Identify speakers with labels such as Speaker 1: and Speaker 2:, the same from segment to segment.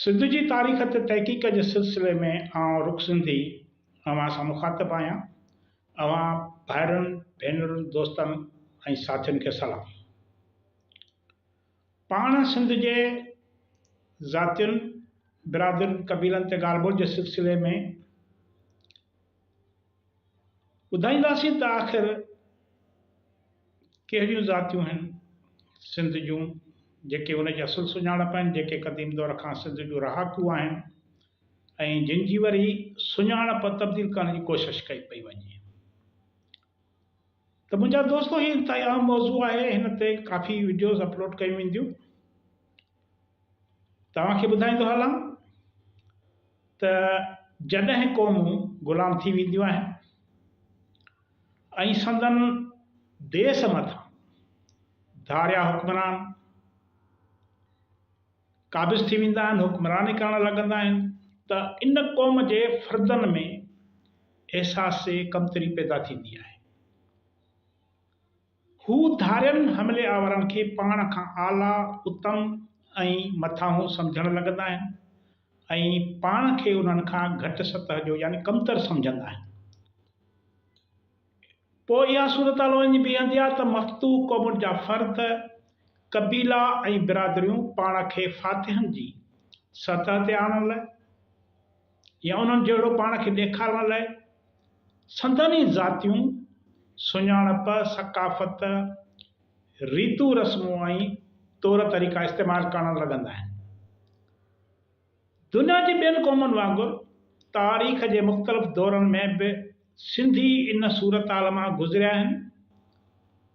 Speaker 1: سنڌ جي تاريخ تي تحقيق جي سلسلي ۾ آئون رخ سنڌي اوهان سان مخاطب آهيان. اوهان ڀائرن، ڀينرن، دوستن ۽ ساٿين کي سلام. پاڻ سنڌ جي ذاتين، برادرين، قبيلن تي ڳالهه ٻولهه جي سلسلي ۾، ٻڌائينداسين ته آخر ڪهڙيون ذاتيون آهن سنڌ جون جيڪي ان جي اصل سڃاڻپ آهن جيڪي قديم دور کان سنڌ جون رهاڪون آهن ۽ جن جي وري سڃاڻپ تبديل ڪرڻ جي ڪوشش ڪئي پئي وڃي ته منهنجا دوستو هي انتهائي اهم موضوع آهي هن تي ڪافي وڊيوز اپلوڊ ڪيون وينديون توهان کي ٻڌائيندو هلان ته جڏهن قومون غلام ٿي وينديون آهن ۽ سندن ديس مٿان ڌاريا حڪمران قابض ٿي ويندا آهن حڪمراني ڪرڻ لڳندا آهن ته ان قوم جي فردن ۾ احساس ڪمتري پيدا ٿيندي آهي هو ڌارين حملي آورن کي پاڻ کان اعليٰ، اتم ۽ مٿاهون سمجهڻ لڳندا آهن ۽ پاڻ کي انهن کان گهٽ سطح جو يعني ڪمتر سمجهندا آهن. پوء اها صورتحال وڃي بيهندي آهي ته مفتوح قومن جا فرد، قبيلا ۽ برادريون پاڻ کي فاتحن جي سطح تي آڻڻ لاء، يا انهن جهڙو پاڻ کي ڏيکارڻ لاء، سندن ئي ذاتيون سڃاڻپ، ثقافت، ريتون رسمون ۽ طور طريقا استعمال ڪرڻ لڳندا آهن. دنيا جي ٻين قومن وانگر تاريخ جي مختلف دورن ۾ به سنڌي ان صورتحال مان گذريا آهن،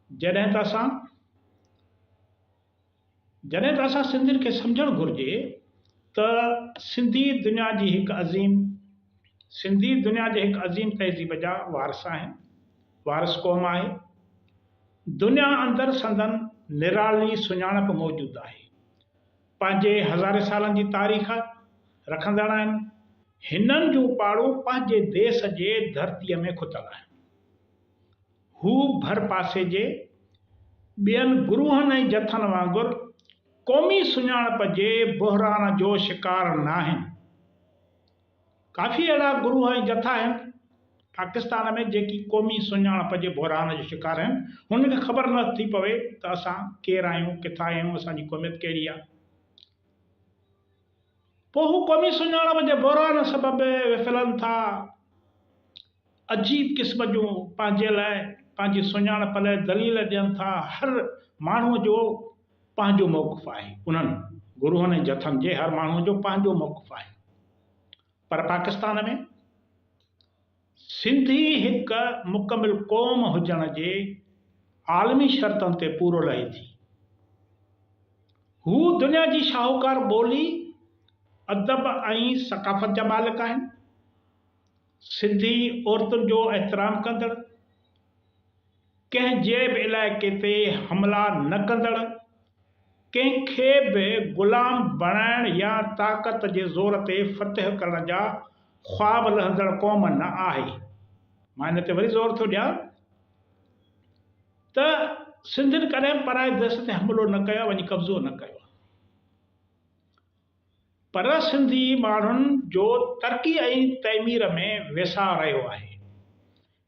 Speaker 1: جڏهن ته اسان جڏهن ته اسان سنڌين کي سمجهڻ گهرجي ته سنڌي دنيا جي هڪ عظيم سنڌي دنيا جي هڪ عظيم تهذيب جا وارث آهن، وارث قوم آهي. دنيا اندر سندن نرالي سڃاڻپ موجود آهي. پنهنجي هزارين سالن جي تاريخ رکندڙ آهن. هنن جون پاڙون پنهنجي ديس جي ڌرتيء ۾ کتل آهن. هو ڀرپاسي جي ٻين گروهن ۽ جٿن وانگر قومي سڃاڻپ جي بحران جو شڪار ناهن. ڪافي اهڙا گروهه ۽ جٿا آهن پاڪستان ۾ جيڪي قومي سڃاڻپ جي بحران جو شڪار آهن، هنن کي خبر نه ٿي پوي ته اسان ڪير آهيون، ڪٿان آهيون، اسان جي قوميت ڪهڙي آهي. پوء هو قومي سڃاڻپ جي بحران سبب وڦلن ٿا ۽ عجيب قسم جون پنهنجي لاء پنهنجي سڃاڻپ لاء دليل ڏين ٿا. هر ماڻهوء جو پنهنجو موقف آهي. انهن گروهن ۽ جٿن جي هر ماڻهوء جو پنهنجو موقف آهي. پر پاڪستان ۾؟ سنڌي هڪ مڪمل قوم هجڻ جي عالمي شرطن تي پورو لهي ٿي. هو دنيا جي شاهوڪار ٻولي، ادب ۽ ثقافت جا مالڪ آهن. سنڌي عورتن جو احترام ڪندڙ. ڪنهن جي به علائقي تي حملا نه ڪندڙ، ڪنهن کي به غلام بڻائڻ يا طاقت جي زور تي فتح ڪرڻ جا خواب لهندڙ قوم نه آهي. مان ان تي وري زور ٿو ڏيان ته سنڌين ڪڏهن پرائي ديس تي حملو نه ڪيو آهي، وڃي قبضو نه ڪيو آهي. پر سنڌي ماڻهن جو ترقي ۽ تعمير ۾ ويساهه رهيو آهي.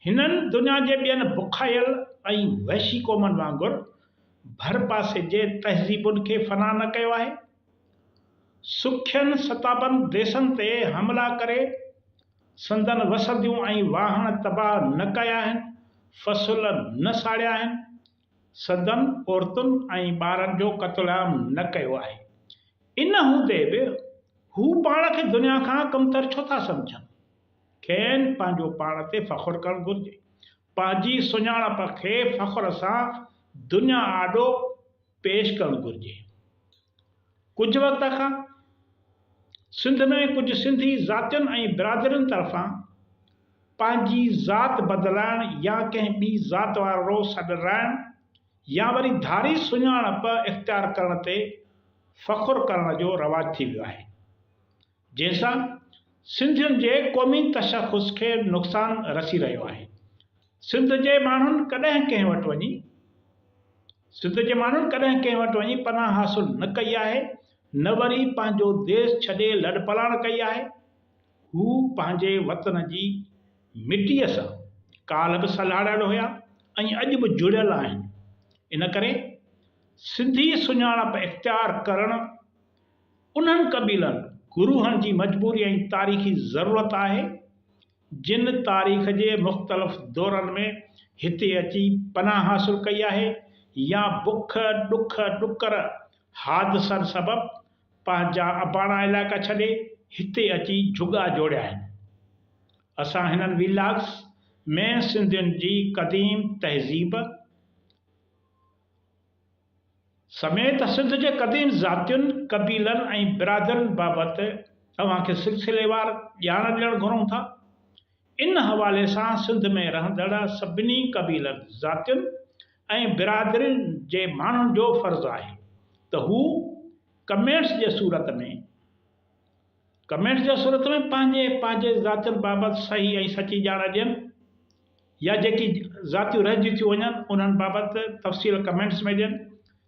Speaker 1: هنن دنيا جي ٻين بکايل ۽ وحشي قومن وانگر ڀرپاسي جي تهذيبن کي فنا نه ڪيو آهي. سکين ستابند ديسن تي حملا ڪري سندن وسنديون ۽ واهڻ تباهه نه ڪيا آهن، فصل نه ساڙيا آهن، سندن عورتن ۽ ٻارن جو قتل عام نه ڪيو آهي. ان هوندي به هو پاڻ کي دنيا کان ڪمتر ڇو ٿا سمجهن؟ کين پنهنجو پاڻ تي فخر ڪرڻ گهرجي. پنهنجي سڃاڻپ کي فخر سان دنيا آڏو پيش ڪرڻ گهرجي. ڪجهه وقت کان سنڌ ۾ ڪجهه سنڌي ذاتين ۽ برادرين طرفان پنهنجي ذات بدلائڻ يا ڪنهن ٻي ذات وارو سڏ رائڻ يا وري ڌاري سڃاڻپ اختيار ڪرڻ تي فخر ڪرڻ جو رواج ٿي ويو آهي. جنهن سان سنڌين جي قومي تشخص کي نقصان رسي رهيو آهي، سنڌ جي ماڻهن ڪڏهن ڪنهن وٽ وڃي سنڌ جي ماڻهن ڪڏهن ڪنهن وٽ وڃي پناهه حاصل نه ڪئي آهي نه وري پنهنجو ديس ڇڏي لڏپلاڻ ڪئي آهي، هو پنهنجي وطن جي مٽيء سان ڪالهه به سلهاڙيل هيا ۽ اڄ به جڙيل آهن، ان ڪري سنڌي سڃاڻپ اختيار ڪرڻ انهن قبيلن گروهن جي مجبوري ۽ تاريخي ضرورت آهي، جن تاريخ جي مختلف دورن ۾ هتي اچي پناهه حاصل ڪئي آهي يا بک، ڏک، ڏڪر، حادثن سبب پنهنجا اباڻا علائقا ڇڏي هتي اچي جهڳا جوڙيا آهن. اسان هنن ويلاگز ۾ سنڌين جي قديم تهذيب، سميت سنڌ جي قديم ذاتين، قبيلن ۽ برادرين بابت اوهان کي سلسليوار ڄاڻ ڏيڻ گهرون ٿا. ان حوالي سان سنڌ ۾ رهندڙ سڀني قبيلن، ذاتين ۽ برادرين جي ماڻهن جو فرض آهي ته هو ڪمينٽس جي صورت ۾ Comments، ڪمينٽس جي صورت ۾ پنهنجي پنهنجي ذاتين بابت صحيح ۽ سچي ڄاڻ ڏين. يا جيڪي ذاتيون رهجي ٿيون وڃن انهن بابت تفصيل ڪمينٽس ۾ ڏين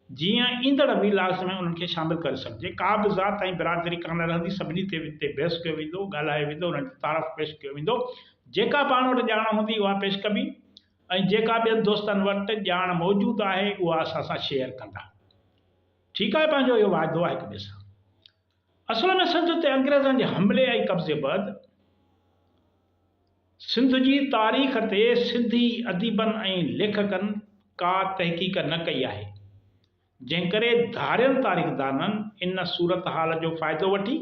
Speaker 1: جيئن ايندڙ وي لاگس ۾ انهن کي شامل ڪري سگهجي ڪا به ذات ۽ برادري ڪانه رهندي سڀني تي تي بحث ڪيو ويندو ڳالهايو ويندو انهن جو تعارف پيش ڪيو ويندو جيڪا پاڻ وٽ ڄاڻ هوندي اها پيش ڪبي ۽ جيڪا ٻين دوستن وٽ ڄاڻ موجود آهي اها اسان سان شيئر ڪندا ٺيڪ آهي پنهنجو اهو واعدو آهي هڪ ٻئي سان. اصل ۾ سنڌ تي انگريزن جي حملي ۽ قبضي بعد سنڌ جي تاريخ تي سنڌي اديبن ۽ ليکڪن ڪا تحقيق نه ڪئي آهي، جنهن ڪري ڌارين تاريخدانن ان صورتحال جو فائدو وٺي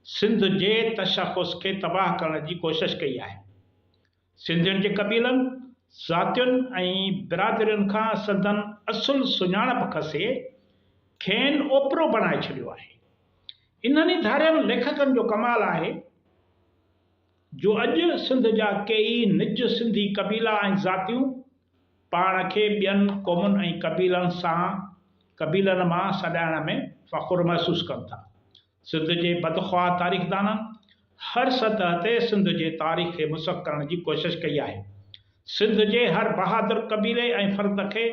Speaker 1: سنڌ جي تشخص کي تباهه ڪرڻ جي ڪوشش ڪئي آهي. سنڌين جي قبيلن، ذاتين ۽ برادرين کان سندن اصل سڃاڻپ کسي، کين اوپرو بڻائي ڇڏيو آهي. انهن ئي ڌارين ليکڪن جو ڪمال آهي، جو اڄ سنڌ جا ڪيئي نج سنڌي قبيلا ۽ ذاتيون، پاڻ کي ٻين قومن ۽ قبيلن سان قبيلن مان سڏائڻ ۾ فخر محسوس ڪن ٿا. سنڌ جي بدخواه تاريخدانن هر سطح تي سنڌ جي تاريخ کي مسخ ڪرڻ جي ڪوشش ڪئي آهي. سنڌ جي هر بهادر قبيلي ۽ فرد کي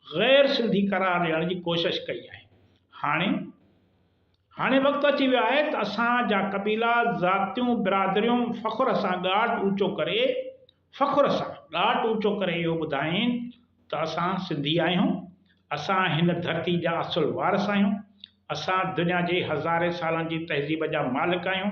Speaker 1: غير سنڌي قرار ڏيڻ جي ڪوشش ڪئي آهي. هاڻي هاڻي وقت اچي ويو آهي ته اسان جا قبيلا، ذاتيون، برادريون فخر سان ڳاٽ اوچو ڪري فخر سان ڳاٽ اوچو ڪري اهو ٻڌائين ته اسان سنڌي آهيون، اسان هن ڌرتي جا اصل وارث آهيون، اسان دنيا جي هزارين سالن جي تهذيب جا مالڪ آهيون.